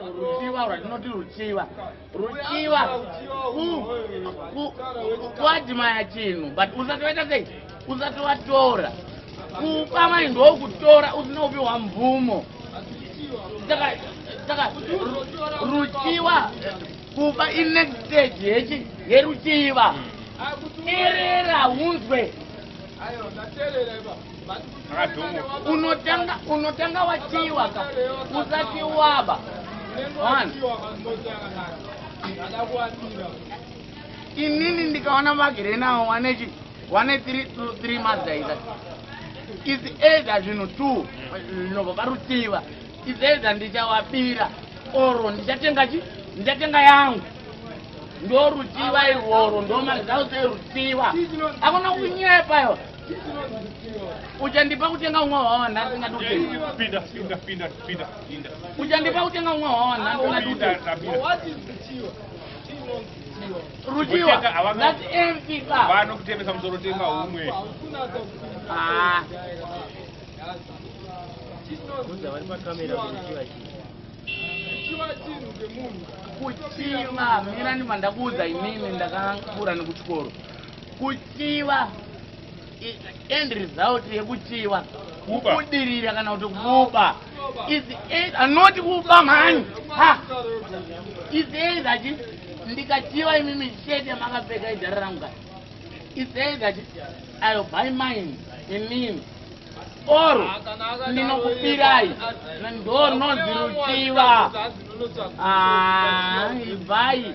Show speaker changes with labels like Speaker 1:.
Speaker 1: ruchiva rwatinoti ruchiva ruchiva kuadimaya chinhu but usati waita sei usati watora kupa mai ndokutora usina kupiwa mvumo saka ruchiva kupa inext stage yechi yeruchiva terera unzwe unotanga unotanga wachiwa ka usati waba inini ndikaona vagere nawo wane chi wane three two three mazaiza is either zvinhu two zvinobva parutsiva izeza ndichawabira oro ndichatenga chi ndichatenga yangu ndorutsiva irworo ndomazause rutsiva akuna kunyepa yo uchandipa kutenga umwe hwawa nhasi ngadiuchandipa kutenga umwe hwawa nhasi ngadiurutsiwa that empty bar vanokutemesa musoro
Speaker 2: tenga umwe ah.
Speaker 1: kuchiva mira ndima ndakuudza imimi ndakakura nekuchikoro kuchiva end result yekuchiva kubudirira kana kuti kuba anoti kuba mhani is either ndikachiva imimi shete makapfeka idhara rangu kati It's either that I'll buy mine in mean or ndinokupirai ndo rinoziruchiva ibvai